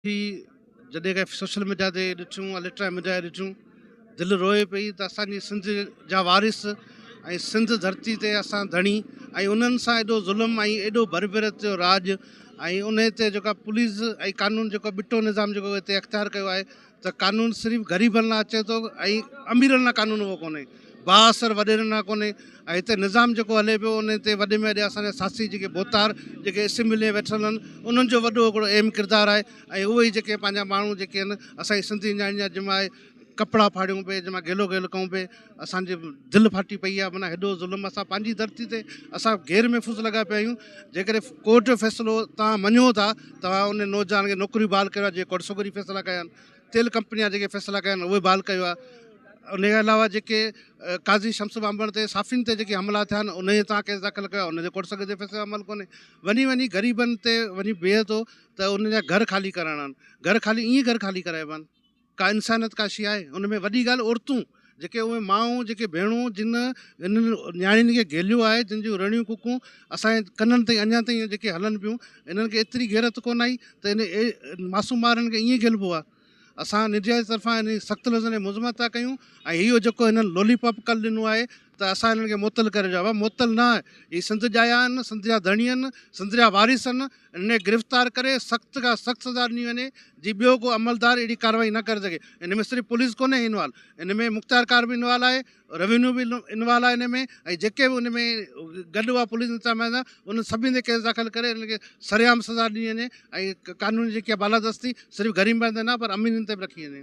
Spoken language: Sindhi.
ٿي جڏهن ڪنهن سوشل ميڊيا تي ڏٺيون اليڪٽرا ميڊيا تي ڏٺيون دل روئي پئي ته اسانجي سنڌ جا وارث ۽ سنڌ ڌرتي تي اسان ڌڻي ۽ انهن سان ايڏو ظلم ۽ ايڏو بربرت جو راڄ ۽ ان تي جيڪا پوليس ۽ قانون جيڪو ٻٽو نظام جيڪو هتي اختيار ڪيو آهي ته قانون صرف غريبن لاء اچي ٿو ۽ اميرن لاء قانون اهو ڪونهي بااثر وڏيرن ڏانهن ڪونهي ۽ هتي نظام جيڪو هلي پيو ان تي وڏي ۾ وڏي اسان جا ساسي جيڪي ڀوتار جيڪي اسيمبلي ۾ ويٺل آهن انهن جو وڏو هڪڙو اهم ڪردار آهي ۽ اهي ئي جيڪي پنهنجا ماڻهو جيڪي آهن اسان جي سنڌي نياڻي جا جن مان ڪپڙا ڦاڙيون پئي جن مان گيلو گيل ڪئون پئي اسان جي دل ڦاٽي پئي آهي معنيٰ هيڏو ظلم اسان پنهنجي ڌرتي تي اسان غير محفوظ لڳا پيا آهيون جيڪڏهن ڪورٽ جو فيصلو تان مڃو ٿا تان ان نوجوان کي نوڪري بحال ڪريو جي ڪورٽ سوگري فيصلا ڪيا آهن تيل ڪمپني جا جيڪي فيصلا ڪيا آهن اهي بحال ڪيو آهي ان کان علاوه جيڪي قاضي شمس ٻانڀڻ تي صحافين تي جيڪي حملا ٿيا آهن انهي تان ڪيس داخل ڪيو آهي ان تي ڪورٽ سگهه جي فيصلي عمل ڪونهي وڃي وڃي غريبن تي وڃي بيهي ٿو ته ان جا گهر خالي ڪرائڻا آهن گهر خالي ائين گهر خالي ڪرائبا آهن ڪا انسانيت ڪا شي آهي ان ۾ وڏي ڳالهه عورتون جيڪي اهي مائون جيڪي ڀيڻون جن انهن نياڻين کي گهيليو آهي جن جون رڙيون ڪڪون اسان جي ڪنن تائين اڃا تائين جيڪي هلن پيون انهن کي ايتري غيرت ڪونه آئي ته ان معصوم ٻارن کي ائين گهيلبو آهي اسان نيڊيا جي طرفان ان جي سخت لفظن ۾ مذمت ٿا ڪيون ۽ اهو جيڪو هنن لولي پاپ ڪلهه ڏنو آهي ته اسان هنن کي معطل ڪري ڇڏيو آهي. معطل نه، هي سنڌ جا ئي آهن، سنڌ جا ڌڻي آهن، سنڌ جا وارث آهن، هنن کي گرفتار ڪري سخت کان سخت سزا ڏني وڃي، جي ٻيو ڪو عملدار اهڙي ڪارروائي نه ڪري سگهي. هن ۾ صرف پوليس ڪونهي انوالو، هن ۾ مختيارڪار به انوالو آهي، روينيو به انوالو آهي هن ۾ ۽ جيڪي به هن ۾ گڏ هئا پوليس انتظاميا سان انهن سڀني تي ڪيس داخل ڪري هنن کي سرعام سزا ڏني وڃي ۽ قانون جي جيڪي بالادستي صرف غريبن تي نه پر اميرن تي به رکي وڃي.